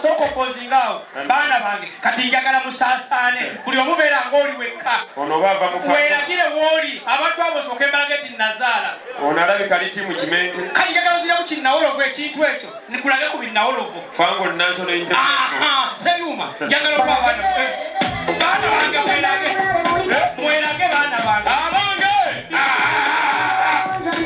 sooka okozinga awo baana bange kati njagala musaasaane buli omubeera ng'oli wekka weragire wooli abantu abo sooka embala geti nazaala ono alabika liti mu kimenge kati njagala oziramu kinnawolovu ekintu ekyo nikulage ku binnawolovu fango nanso sebyuma njagala okuba baana eh, baana bange mwerage eh, mwerage baana bange abange ah, ah, ah,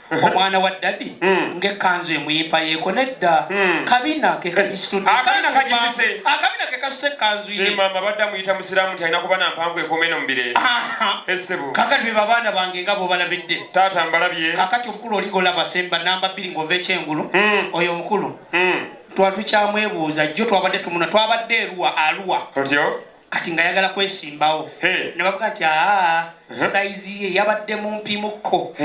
omwana wa dadi hmm. ngaekanzu emuyimpa yeko nedda hmm. kabina kekakisitudakabina kekasuse ekanzu yemama badde amuyita musiramu nti alina kuba nampanvu ekomeno mubire esebo kakati beba baana bange nga bobalabidde taata mbalabye kakati omukulu oligolaba semba namba bbiri ngaova ekyengulu hmm. oyo omukulu twatukyamu ebuuza jjo twabadde tumuna twabadde eruwa aluwa otyo kati nga yagala kwesimbawo nebavuga nti aa saizi ye yabadde mumpi mukko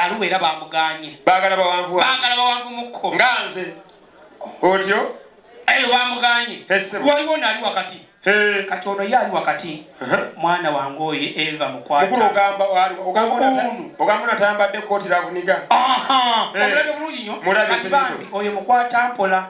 aluwa era bamuganye bagala bawanvu mukko nga nze otyo ayo bamuganye waliwo naali wakati kati ono ye ali wakati mwana wange oyo eva mukwataoyo mukwata mpola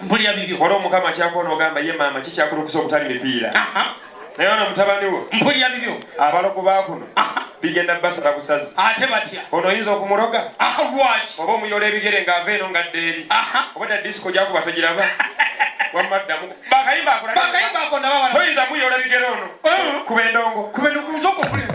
mpulira bibi waliwo mukama akyakuwa nogamba ye maama kikyakulukusa okutali mipiira naye ono mutabani wo mpulira bibyo abalogo bakuno bigenda basala busazi ate batya ono oyinza okumuloga lwaki oba omuyola ebigere ng'ava eno ngadde eri oba ta disiko gyakuba togiraba wamaddamu bakayimba akolaakayimba ako ndaba toyinza muyola ebigere ono oh. kuba endongo kuba endongo nzoka okulira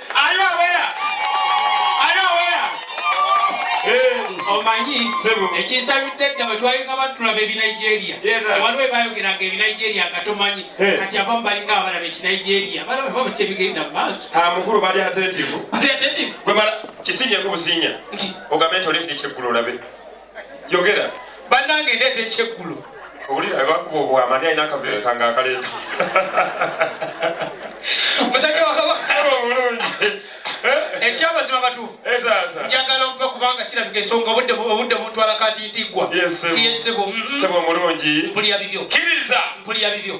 omanyi ekinsabidde dda bwe twalinga batulaba ebinigeria waliwo ebayogeranga ebinigeria nga tomanyi kati abamu balinga abalaba ekinigeria balaba kyebigenda mu maaso ah, mukulu bali atentivu bali atentivu gwe mala kisinyeko businya nti ogambe nti olindikyeggulu olabe yogera bannange ndeeta ekyeggulo owulira ebakuba obwamani alina akaveere kange akaleeta musajja wakabasaba obulungi eh? ekyamazima batuufu eh, njagala ompe kubanga kirabika ensonga obudde obudde buntwala kati ntiggwa yesebo mm-hmm. sebo mulungi mpulira bibyo kiriza mpulira bibyo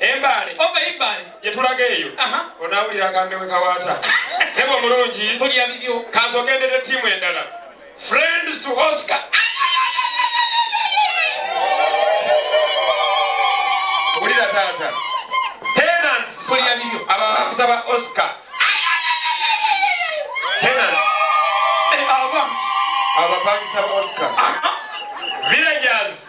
Embaale oba oh, Embaale gye tulaga eyo onaawulira akambe we kawaata sebo omulungi tulya bibyo kansogendedde ttiimu endala friends to Oscar wulira taata tenants tulya bibyo aba bakusaba Oscar tenants eh, abapangisa Oscar villagers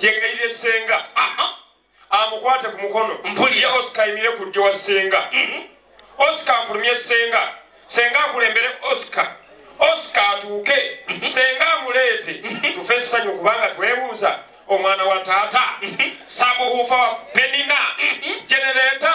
yegayire senga amukwate ku mukono mpulire oscar ayimire ku ddyo wa senga mhm. oscar afulumye senga senga akulembere oscar oscar atuuke mhm. senga amuleete mhm. tufe essanyu kubanga twebuuza omwana wa taata sabuhufa wa penina genereta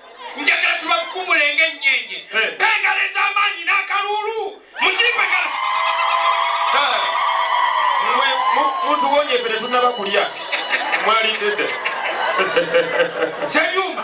njagala tubakumule ng'ennyenje bengalo ez'amaanyi n'akaluulu muzimbe kala mutuwonye ffe tetunnaba kulya mwalidde dda senyumba